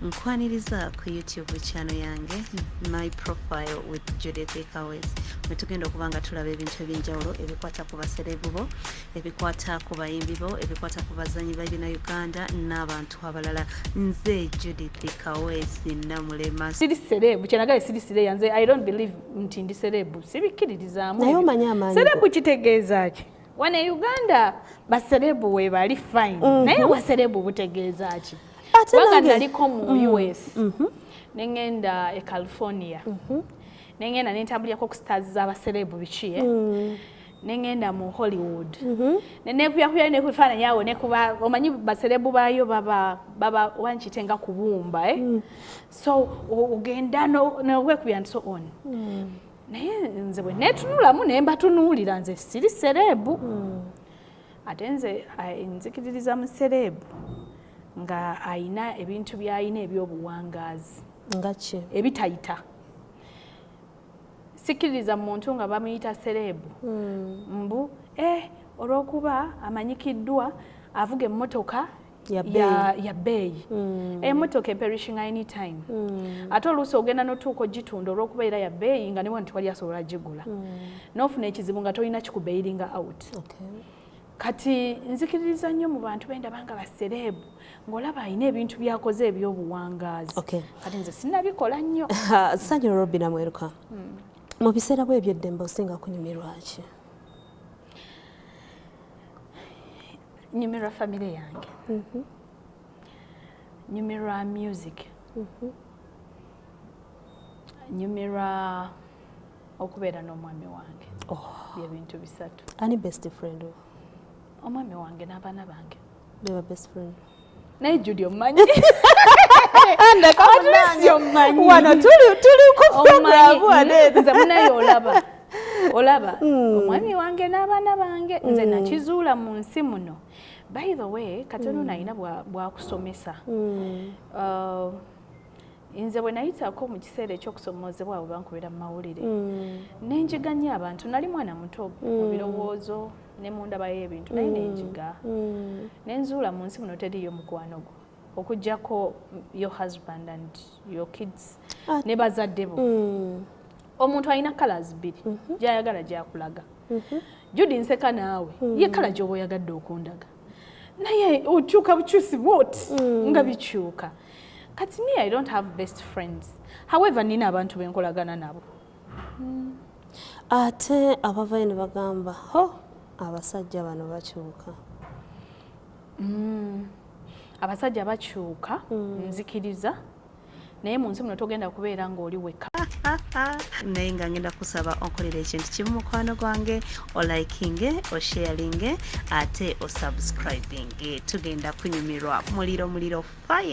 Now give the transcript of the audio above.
nkwaniriza ku youtube channel yange my profile with judith cowes wetugenda okuba nga tulaba ebintu ebyenjawulo ebikwata ku baserebu bo ebikwata ku bayimbi bo ebikwata ku bazanyi babina uganda n'abantu abalala nze judith cowes namulema siri serebu kyenagale siri sireya nze i don't believe nti ndi serebu sibikkiririzaamu serebu kitegeeza ki wano e uganda baserebu webali fine mm -hmm. naye waserebu butegeeza ki wanga naliko mu mm. us mm -hmm. nengenda e california mm -hmm. nengenda nentabulyako ku stars zabaserebu bikiye mm. nengenda mu hollywood mm -hmm. nenekuyakuyayo nekufaananyi awo nekuba omanyi baserebu bayo baba, baba wankitenga kubumba eh? mm. so ogenda nowekubya no, no, nti so on mm. naye nze bwe neetunulamu ne mbatunuulira nze siri sereebu hmm. ate nze nzikiririza mu sereebu nga ayina ebintu byayina ebyobuwangaazi ngaki ebitayita sikiririza muntu nga bamuyita sereebu hmm. mbu eh, olwokuba amanyikiddwa avuga emmotoka yabbeeyi mm. emotoka eperishing any time mm. ate oluusi ogenda notuuka ogitunda olwokuba era yabbeeyi nga newa ntiwali asobola gigula mm. nofuna ekizibu nga tolina kikubeiringa out okay. kati nzikiririza nnyo mu bantu bendaba nga basereebu ng'olaba alina ebintu byakoze ebyobuwangaazi okay. kati nze sinabikola nnyo sanyu robi namweruka mm. mu biseera bwe ebyeddembe osinga kunyumirwaki nyumirwa famire yange mhm. nyumirwa music mhm. nyumirwa okubeera n'omwami wange oh. byebintu bisatu ani best friend omwami wange n'abaana bange beba best friend naye judi omumanyi wano tuli kuprogramunze munaye olaba olaba hmm. omwami wange n'abaana bange nze hmm. nakizuula mu nsi muno by the way katono hmm. nalina bwakusomesa uh, nze bwe nayitako mu kiseera ekyokusomoozebwa abo bankubira mu mawulire mm. nenjiganya abantu nali mwana muto mm. mu birowoozo ne mu ndaba y'ebintu naye mm. nenjiga mm. nenzuula mu nsi muno teriyo mukwano gwo okujjako your husband and your kids ah. ne bazadde bo mm. omuntu alina colors bbiri mm -hmm. gyayagala gyakulaga mm -hmm. judi nseka naawe mm. ye kala gyoba oyagadde okundaga naye okyuka bukyusi bwot mm. nga bikyuka kati me i don't have best friends however nina abantu benkolagana nabo mm. ate abavayo ne bagamba ho abasajja bano bakyuka mm. abasajja bakyuka mm. nzikiriza naye mu nsi muno togenda kubeera ng'oli wekka naye nga ngenda kusaba onkolera ekintu kimu mukwano gwange olikinge osharinge ate osubscribinge tugenda kunyumirwa muliro muliro fire